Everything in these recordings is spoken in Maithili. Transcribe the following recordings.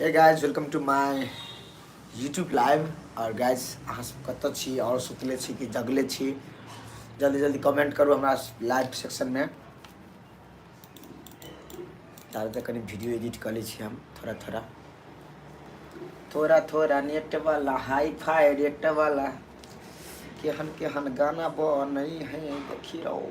हे guys welcome to my YouTube live और गाइज अहाँ सब कतऽ छी और सुतले छी कि जगले छी जल्दी जल्दी कमेंट करू हमरा लाइव सेक्शन में तारे तक कनी वीडियो एडिट कर ले छी हम थोड़ा थोड़ा थोड़ा थोड़ा नेट वाला हाई फाई रेट वाला केहन केहन गाना बनै है देखी रहो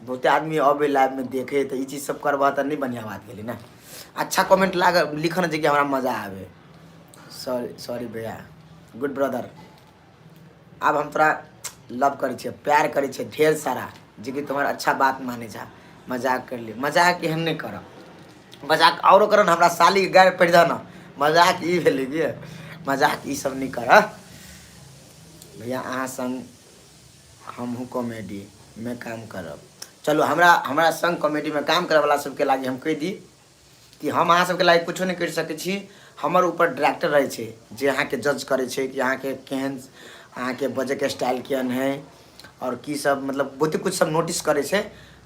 बहुते आदमी अबे लाइव में देखे तो ई चीज सब करबा तो नहीं बढ़िया बात गेली ना अच्छा कमेंट लाग लिखन जे कि हमरा मजा आवे सॉरी सॉरी भैया गुड ब्रदर अब हम तोरा लव करे छे प्यार करे छे ढेर सारा जे कि तुम्हारा अच्छा बात माने जा मजाक कर ले मजाक एहन नहीं कर मजाक औरो करन हमरा साली के गाड़ पड़ जा ना मजाक ई भेलै कि मजाक ई सब नहीं कर भैया अहाँ संग हमहूँ कॉमेडीमे काम करब चलू हमरा हमरा सङ्ग कॉमेडीमे काम करैवला सभके लागि हम कहि दी कि हम अहाँ सभके लागि किछो नहि करि सकै छी हमर ऊपर डायरेक्टर रहै छै जे अहाँके जज करै छै कि अहाँके केहन अहाँके बजैके स्टाइल केहन हइ आओर की सब मतलब बहुते किछु सब नोटिस करै छै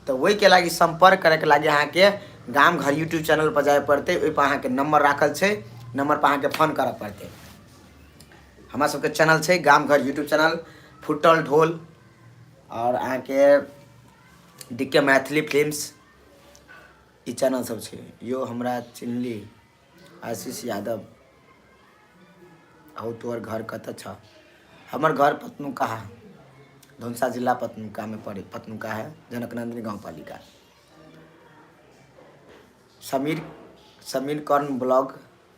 तऽ ओहिके लागि सम्पर्क करैके लागि अहाँके गाम घर यूट्यूब चैनलपर जाय पड़तै ओहिपर अहाँके नम्बर राखल छै नम्बरपर अहाँके फोन करऽ पड़तै हमरा सबके चैनल छै गाम घर यूट्यूब चैनल फुटल ढोल और अहाँ के डीके मैथिली फिल्म्स ई चैनल सब छै यो हमरा चिन्हली आशीष यादव हौ तोहर घर कत छ हमर घर पतनुका है धनुषा जिला पतनुका में पड़े पतनुका है जनकनंदिनी गाँव पालिका समीर समीर कर्ण ब्लॉग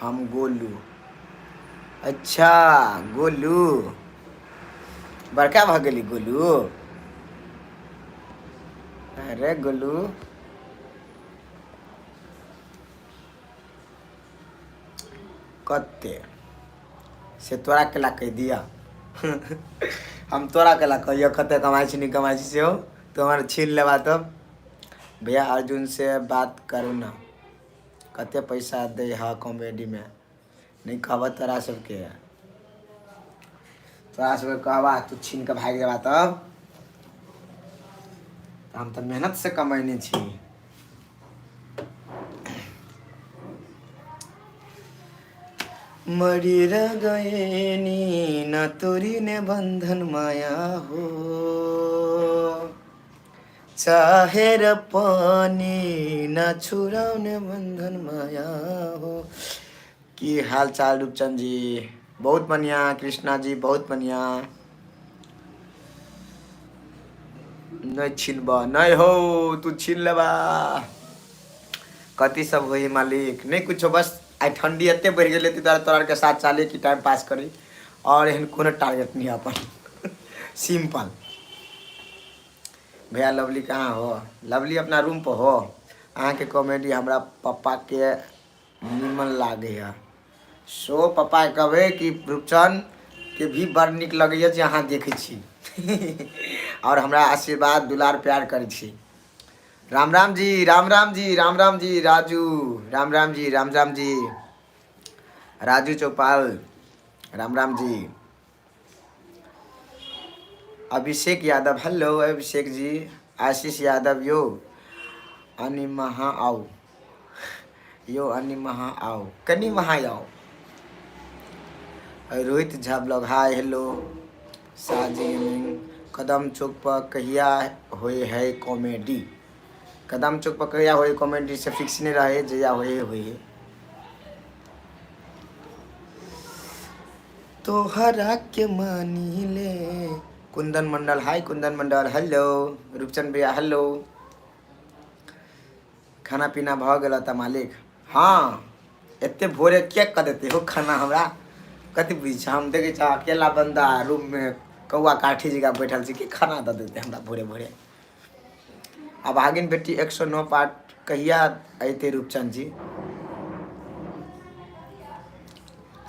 हम गोलू अच्छा गोलू बड़का भऽ गेली गोलू अरे गोलू कते से तोरा केला कहि दिया हम तोरा केला कहियो कते कमाइ छी नहि कमाइ छी सेहो तो हमर छीन लेबा तब भैया अर्जुन से बात करू ना कते पैसा दे हा कॉमेडी में नहीं कहबा तोरा सबके तोरा सबके कहबा तू छीन के भाग जाबा तब हम तो मेहनत से कमैने छी मरी र गए नी ना तोरी ने बंधन माया हो चाहेर पानी न छुड़ाउने बन्धन माया हो की हाल चाल रूपचंद जी बहुत बढ़िया कृष्णा जी बहुत बढ़िया नहीं छिलबा नहीं हो तू छिल लेबा कति सब हो मालिक नहीं कुछ बस आई ठंडी एत बढ़ गए तोरा तोरा के साथ चले कि टाइम पास करी और एहन कोनो टारगेट नहीं अपन सिंपल भैया लवली कहाँ हो लवली अपना रूम पर हो अहाँ के कॉमेडी हमरा पापा के निमन लागे है सो पापा के कहबे कि रूपचंद के भी बड़ निक लगे है जे अहाँ देखे छी और हमरा आशीर्वाद दुलार प्यार करे छी राम राम जी राम राम जी राम राम जी राजू राम राम जी राम राम जी राजू चौपाल राम राम जी अभिषेक यादव हेलो अभिषेक जी आशीष यादव यो अनि महा आऊ यो अनि महा आऊ कनी महा आऊ Rohit Jha blog hi hello साजी कदम चौक पर कहिया होए है कॉमेडी कदम चौक पर कहिया होए कॉमेडी से फिक्स नहीं रहे जया होए होए तोहरा के मानी ले कुंदन मंडल हाय कुंदन मंडल हेलो रूपचंद भैया हेलो खाना पीना भऽ गेल तऽ मालिक हाँ एते भोरे के कऽ देते हो खाना हमरा कथी बुझै छै हम देखै छ अकेला बंदा रूम में कौआ काठी जकाँ बैठल छै की खाना दऽ देते हमरा भोरे भोरे आ भागिन बेटी एक सौ नौ पार्ट कहिया अयते रूपचंद जी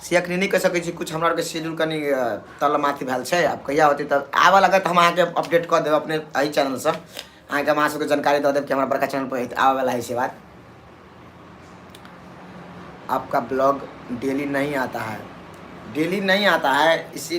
से अखनी नहि कहि सकै छी किछु हमरा आरके शेड्यूल कनि अ, तलमाथि भेल छै आब कहिया होतै तऽ आबऽ लागत तऽ हम अहाँके अपडेट कऽ देब अपने एहि चैनलसँ अहाँके हम अहाँ सबके जानकारी दऽ देब कि हमरा बड़का चैनल पर आबऽ वाला है से बात आपका ब्लॉग डेली नहीं आता है डेली नहीं आता है इसी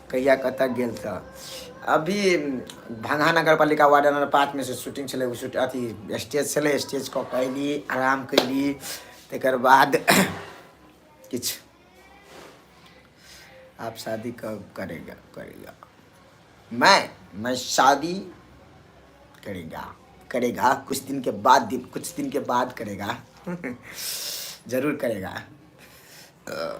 कहिया कतऽ गेल तऽ अभी भंगा नगर पालिका वार्ड नंबर पाँचमे से शूटिंग छलै ओ शूट अथी स्टेज छलै स्टेज कऽ के अयली आराम कयली तकर बाद किछु आप शादी कब करेगा करेगा मैं मैं शादी करेगा करेगा कुछ दिन के बाद दिन कुछ दिन के बाद करेगा जरूर करेगा अ,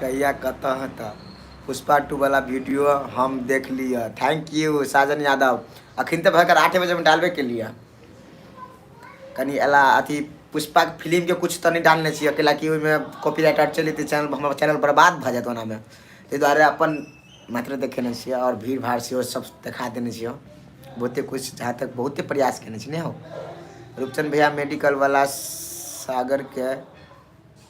कहिया कतऽ हतऽ पुष्पा टू वाला वीडियो हम देख लिया थैंक यू साजन यादव अखन तक भरकर आठे बजे में डालबे के लिए कनी अला अथी पुष्पा के फिल्म के कुछ तो नहीं डालने चाहिए अकेला कि ओहिमे कॉपीराइट आर चली तो चैनल हमारा चैनल बर्बाद भऽ जायत ओना में ताहि दुआरे अपन मात्र देखेने छियै और भीड़ भाड़ से सब देखा देने छियै बहुते कुछ जहाँ तक बहुते प्रयास केने छी नहीं हो रूपचंद भैया मेडिकल वाला सागर के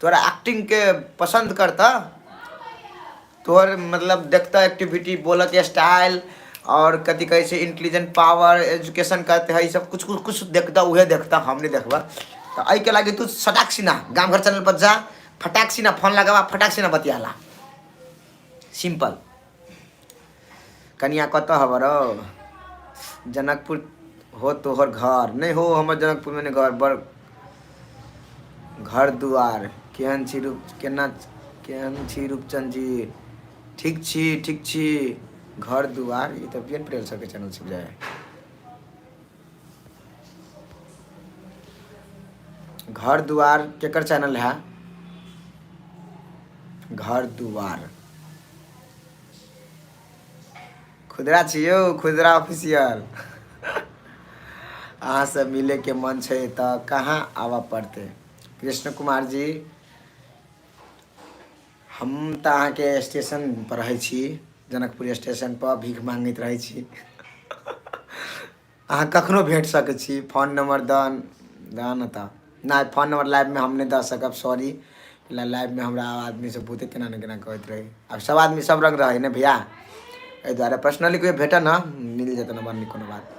तोरा एक्टिंग के पसंद करता तोहर मतलब देखता एक्टिविटी बोलऽ के स्टाइल और कथी कहे छै इंटेलिजेंट पावर एजुकेशन करते है ई सब कुछ कुछ कुछ देखता उहे देखता हम नहीं देखबा तो आई के लागे तू सटाक सिन्हा गाँव घर चैनल पर जा फटाक सिन्हा फोन लगावा फटाक सिन्हा बतियाला सिंपल कनिया कतऽ हब रौ जनकपुर हो तोहर घर नहीं हो हमर जनकपुर में घर बड़ घर दुआर केहन छी रूप केना केहन छी रूपचंद जी ठीक छी ठीक छी घर दुआर ई तऽ बियन प्रेल सबके चैनल से बुझाय घर दुआर केकर चैनल है घर दुआर खुदरा छियो खुदरा ऑफिशियल अहाँ से मिले के मन छै तऽ कहाँ आबऽ पड़ते कृष्ण कुमार जी हम तऽ अहाँके स्टेशन पर रहै छी जनकपुर स्टेशन पर भीख मांगैत रहै छी अहाँ कखनो भेट सकै छी फोन नंबर दन दऽ न तऽ नहि फोन नंबर लाइवमे हम नहि दऽ सकब सॉरी लाइवमे हमरा आदमी सब बहुते केना ने केना कहैत रहै आब सब आदमी सब रंग रहै ने भैया एहि दुआरे पर्सनली कोइ भेटऽ न मिल जेतै नंबर नहि कोनो बात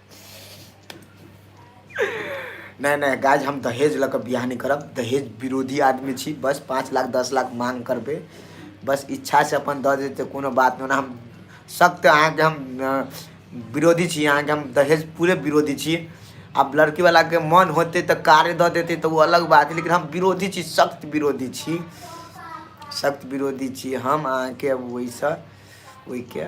नहि नहि गाइज हम दहेज लऽ कऽ बियाह नहि करब दहेज विरोधी आदमी छी बस पाँच लाख दस लाख माँग करबै बस इच्छासँ अपन दऽ देतै कोनो बात नहि ओना हम सख्त अहाँके हम अ, विरोधी छी अहाँके हम दहेज पूरे विरोधी छी आब लड़कीवलाके मन होतै तऽ कार्य दऽ देतै तऽ ओ अलग बात है लेकिन हम विरोधी छी सख्त विरोधी छी सख्त विरोधी छी हम अहाँके अब ओहिसँ ओहिके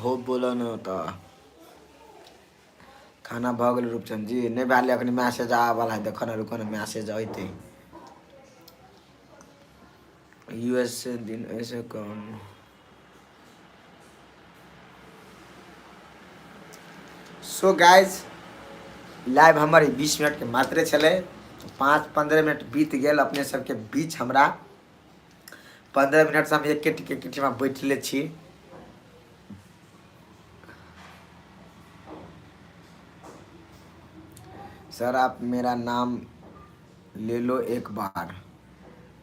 हो बोलऽ ने तऽ खाना भऽ गेल रूपचंद जी नहि भए गेलै एखन मैसेज आबल है देखऽ ने रुकऽ ने मैसेज अयतै यू एस से दिन ऐसे कौन सो गाइज लाइव हमर ई बीस मिनटके मात्रे छलै पाँच पन्द्रह मिनट बीत गेल अपने सबके बीच हमरा पन्द्रह मिनटसँ हम एके टिके किठीमे बैठले छी सर आप मेरा नाम ले लो एक बार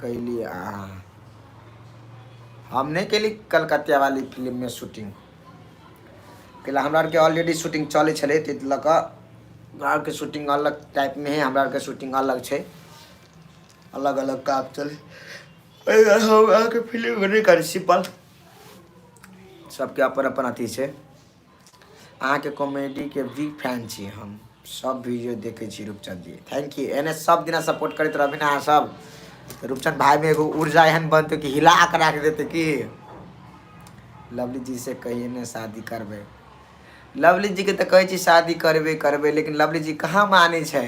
कैली अहाँ हम नहीं कैली कलकत्ता वाली फिल्म में शूटिंग कैला हमरा आरके ऑलरेडी शूटिंग चले छे तो लऽ कऽ के शूटिंग अलग टाइप में है हमरा आरके शूटिंग अलग छे अलग अलग काम चले हम अहाँके फिल्म नहीं करी सिंपल सबके अपन अपन अथी छे अहाँ के कॉमेडी के बिग फैन छी हम सब वीडियो देखे छी रूपचंद जी थैंक यू एने सब दिना सपोर्ट करते रहबे ना अहाँ सब तो रूपचंद भाई में एगो ऊर्जा एहन बनते कि हिला के रख देते कि लवली जी से कहिए ने शादी करबे लवली जी के तो कहे छी शादी करबे करबे लेकिन लवली जी कहाँ माने छै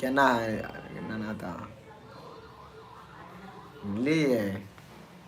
केना है ना ना तो बुझलिए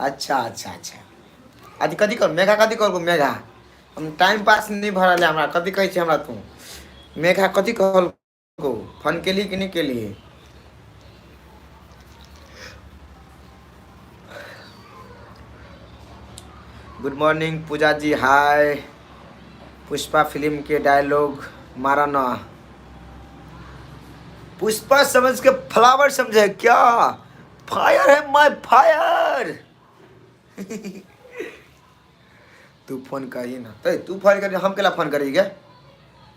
अच्छा अच्छा अच्छा अ कथी कर मेघा कथी करबो मेघा हम टाइम पास नहि भऽ रहल है हमरा कथी कहै छै हमरा तू मेघा कथी कहल कौ फोन केलही कि नहि केलियै good morning Pooja ji hi Pushpa film के डायलॉग मारा ना पुष्पा समझ के फ्लावर समझे क्या फायर है माय फायर तू फोन करी ना ए तू फोन करी हम केला फोन करी क्या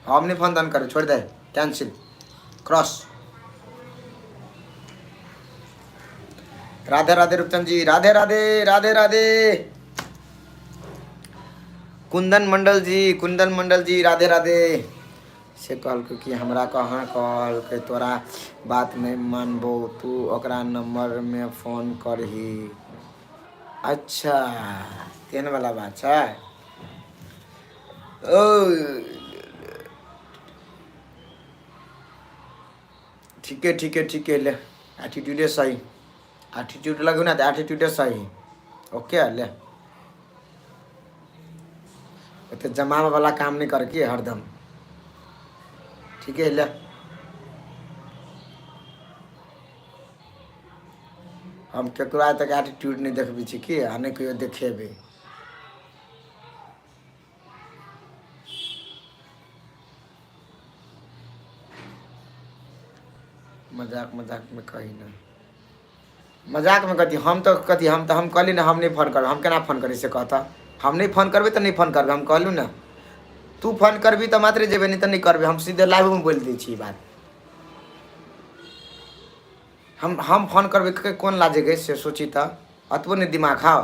हम नहीं फोन दान करे छोड़ दे कैंसिल क्रॉस राधे राधे रूपचंद जी राधे राधे राधे राधे कुंदन मंडल जी कुंदन मंडल जी राधे राधे से कहलकै कि हमरा कहाँ कहलकै तोरा बात नहि मानबौ तू ओकरा नंबर मे फोन करही अच्छा तेहन वाला बात छै ओ ठीके ठीके ठीके ले एटीट्यूडे सही एटीट्यूड लगू ना तऽ एटीट्यूडे सही ओके ले एते जमावे वाला काम नहीं कर के हरदम ठीक है ले हम केकरो आइ तक एटीट्यूड नहीं देखबी छी की आ नहीं कहियो देखेबे मजाक मजाक में कही ना मजाकमे कहती हम तऽ कहती हम तऽ हम कहली ने हम नहि फोन करब हम केना फोन करी से कहता हम नहि फोन करबै तऽ नहि फोन करबै हम कहलहुँ ने तू फोन करबी तऽ मात्रे जेबै नहि तऽ नहि करबै हम सीधे लाइवमे बोलि दै छी ई बात हम हम फोन करबै के कोन लाजेके से सोची तऽ अतबो नहि दिमाग खाओ